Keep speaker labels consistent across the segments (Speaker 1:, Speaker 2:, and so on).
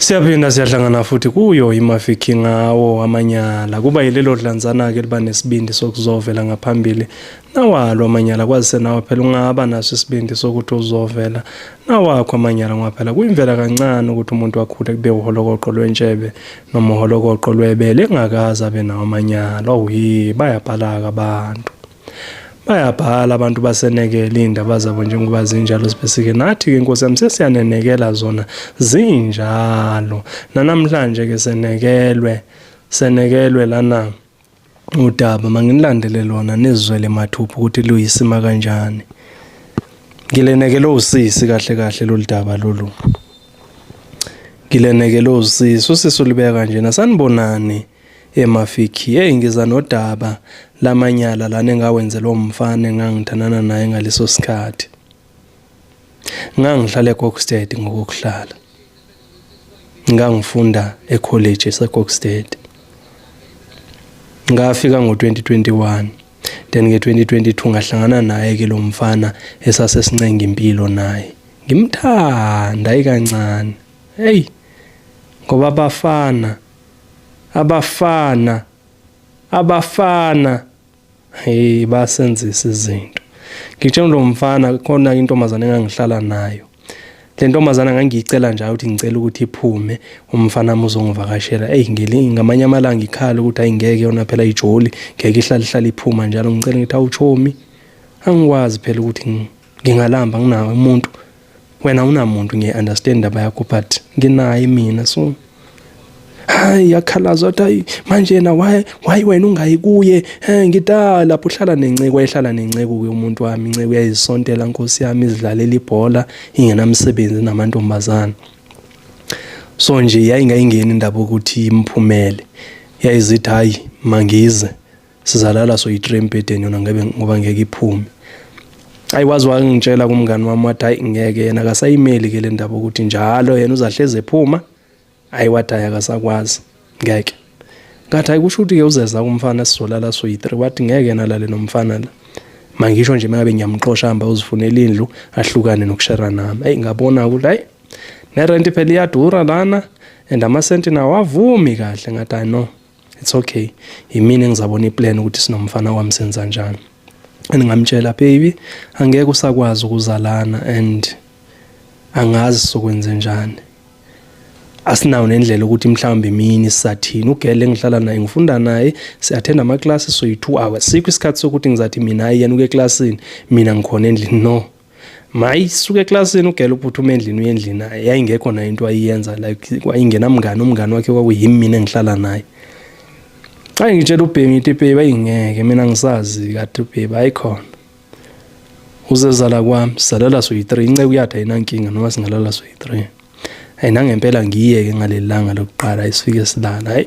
Speaker 1: Siyaphinda siyahlangana futhi kuyo iMafiki ngawo amanyala kuba yilelo dlanzana-ke liba nesibindi sokuzovela ngaphambili nawalo amanyala kwazise nawe phela ungaba naso isibindi sokuthi uzovela nawakho amanyala ngoba phela kuyimvela kancane ukuthi umuntu akhule kube uholokoqo lwentshebe noma uholokoqo lwebele engakaze abe nawo amanyala oyi bayabhalaka abantu bayabhala abantu basenekele iy'ndaba zabo njengoba zinjalo sibesike nathi-ke nkosi yami sesiyanenekela zona zinjalo nanamhlanje-ke senekelwe senekelwe lana udaba manginilandele lona nizwele mathupha ukuthi luyisima kanjani ngilenekele usisi kahle kahle lolu daba lolu ngilenekele usisi usisi ulibeka kanjena sanibonani emafiki hey ngiza nodaba lamanyala lana engawenzelwa umfana engangithandana naye ngaleso sikhathi ngangihlala eKokstad ngokuhlala ngangifunda ecollege eseKokstad ngafika ngo-2021 then nge-2022 ngahlangana naye ke lo mfana esasesincenga impilo naye ngimthanda ikancane heyi ngoba bafana abafana abafana hey basenzisa izinto ngitshela lo mfana khona intombazane engangihlala nayo le ntombazane ngangiyicela njalo ukuthi ngicela ukuthi iphume umfana wami uzongivakashela eyi ngeli ngamanye amalanga ikhala ukuthi ayi ngeke yona phela ijoli ngeke ihlale ihlale iphuma njalo ngicela ngithi awuchomi angikwazi phela ukuthi ngingalamba nginawe umuntu wena unamuntu ngiye-understand indaba yakho but nginaye mina so hayi yakhalaza wathi hayi manje yena why why wena ungayi kuye eh ngita lapho uhlala nenceko ehlala nenceko ke umuntu wami inceko yayisontela nkosi yami izidlalela ibhola ingenamsebenzi namantombazana so nje yayingayingeni indaba ukuthi imphumele yayizithi hayi mangize sizalala soyi-three embhedeni yona ngebe ngoba ngeke iphume ayi wazi wangitshela kumngani wami wathi hayi ngeke yena akasayimeli ke le ndaba ukuthi njalo yena uzahleze ephuma hayi wathi hayi akasakwazi ngeke ngathi hayi kusho ukuthi-ke uzeza kumfana sizolala soyi-three wathi ngeke yena alale nomfana la mangisho nje mengabe ngiyamxosha hamba uzifunela indlu ahlukane nokushera nami eyi ngabona ukuthi hayi nerenti phela iyadura lana and amasenti nawo avumi kahle ngathi hayi no it's okay yimina engizabona iplan ukuthi sinomfana wami senza njani and ngamtshela baby angeke usakwazi ukuzalana and angazi sokwenze njani asinawo nendlela ukuthi mhlawumbe mini sisathini ugele engihlala naye ngifunda naye siyathenda ama-classes soyi-two hours sikho isikhathi sokuthi ngizathi mina ayi yena uke eklasini mina ngikhona endlini no mayi suke eklasini ugela uphuthume endlini uye endlini naye yayingekho nayo into ayiyenza like kwayingenamngane umngane wakhe kwakuyimi mina engihlala naye xa ngitshela ubheki ngithi ubheki bayingeke mina ngisazi kade ubheki ayikhona uzezala kwami sizalela soyi-three inceku yatha ayinankinga noma singalala soyi-three hayi nangempela ngiyeke ngaleli langa lokuqala esifike silala hayi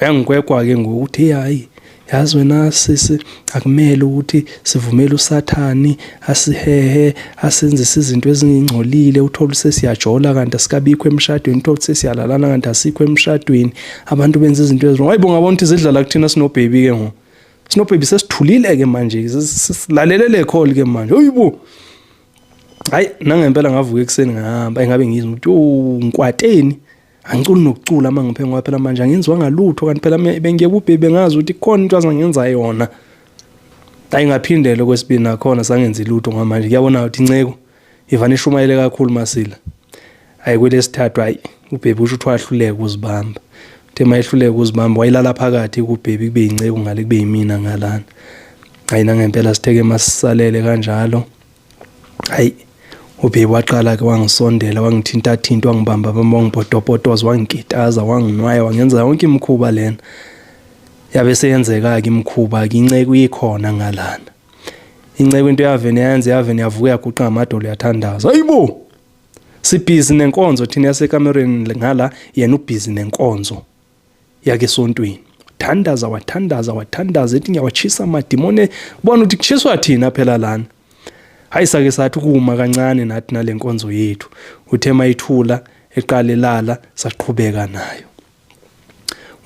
Speaker 1: uyangikwekwa ke ngokuthi hayi yazi wena sisi akumele ukuthi sivumele usathani asihehe asenzise izinto ezingingcolile uthole sesiyajola kanti asikabikho emshadweni uthole sesiyalalana kanti asikho emshadweni abantu benza izinto ezirong hayibo ngabona ukuthi zidlala kuthina sinobhebi ke ngo sinobhebi sesithulile ke manje silalele le call ke manje hayibo hayi nangempela ngavuka ekuseni ngihamba engabe ngizwa ukuthi yo ngikwateni angiculi nokucula uma ngiphe ngoba phela manje angenziwa ngalutho kanti phela bengiye kubhebe ngazi ukuthi khona into azangenza yona ayi ngaphindele kwesibili nakhona sangenzi lutho ngamanje kuyabona ukuthi inceko ivane ishumayele kakhulu masila ayi kwelesithathu ayi ubhebe usho ukuthi wahluleka uzibamba uthe mayehluleka uzibamba wayilala phakathi kubhebe kube yinceku ngale kube yimina ngalana ayi nangempela sitheke masisalele kanjalo hayi ubhebi waqala ke wangisondela wangithintathinta wangibamba bamba wangipotopotoza wangigitaza wanginwaya wangenza yonke imikhuba lena yabe seyenzeka-ke imikhuba-ke inceku ikhona ngalana inceku into yavene yenze yavene yavuka yaguqa ngamadolo yathandaza hayi bo sibhizi nenkonzo thina yasekamereni ngala yena ubhizi nenkonzo yake esontweni wathandaza wathandaza wathandaza ethi ngiyawatshisa amadimone bona ukuthi kushiswa thina phela lana hayi sake sathi ukuma kancane nathi nale nkonzo yethu uthe mayithula eqale lala saqhubeka nayo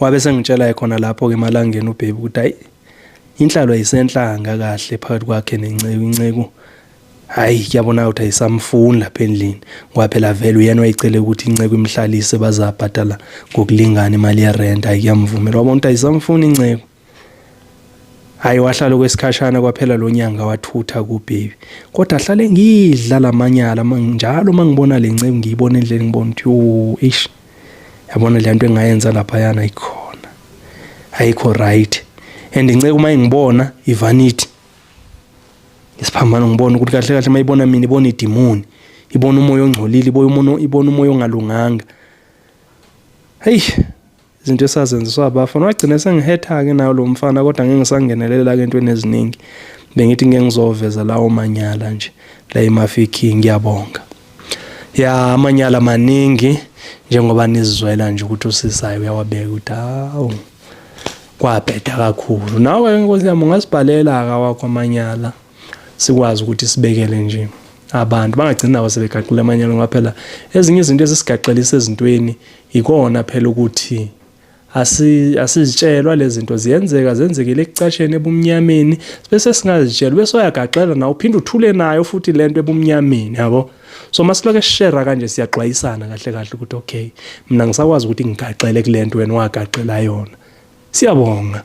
Speaker 1: wabe sengitshela khona lapho ke emalangeni ubhebi ukuthi hayi inhlalo ayisenhlanga kahle phakathi kwakhe nenceku inceku Hayi kuyabona ukuthi ayisamfuni lapha endlini ngoba phela vele uyena wayicele ukuthi inceku imhlalise bazabhadala ngokulingana imali yerent hayi kuyamvumela wabona ukuthi ayisamfuni inceku hayi wahlala okwesikhashana kwaphela lo nyanga wathutha kubhebi kodwa ahlale ngidla lamanyala njalo uma ngibona le nceku ngiyibona endleni ngibona ukuthi yo ish yabona le nto engayenza laphayana ayikhona ayikho right and inceku uma ingibona ivanithi isiphambano ngibona ukuthi kahle kahle mayibona mina ibona idimoni ibona umoya ongcolile ibona umoya ibona umoya ongalunganga hey izinto esazenziswa abafana wagcina sengihetha ke nayo lo mfana kodwa ngeke ngisangenelela ke entweni eziningi bengithi ngeke ngizoveza lawo manyala nje la emafikhi ngiyabonga ya amanyala maningi njengoba nizizwela nje ukuthi usisayo uyawabeka ukuthi hawu kwabheda kakhulu nawe ke nkosi yami ungasibhalela aka wakho amanyala sikwazi ukuthi sibekele nje abantu bangagcini nabo sebegaqile amanyala ngoba phela ezinye izinto ezisigaxelisa ezintweni yikona phela ukuthi asizitshelwa lezi zinto ziyenzeka zenzekile ekucasheni ebumnyameni bese singazitshelwa bese uyagaxela nawe uphinde uthule nayo futhi le nto ebumnyameni yabo so masiloke share kanje siyaxwayisana kahle kahle ukuthi okay mina ngisakwazi ukuthi ngigaxele kulento wena wagaxela yona siyabonga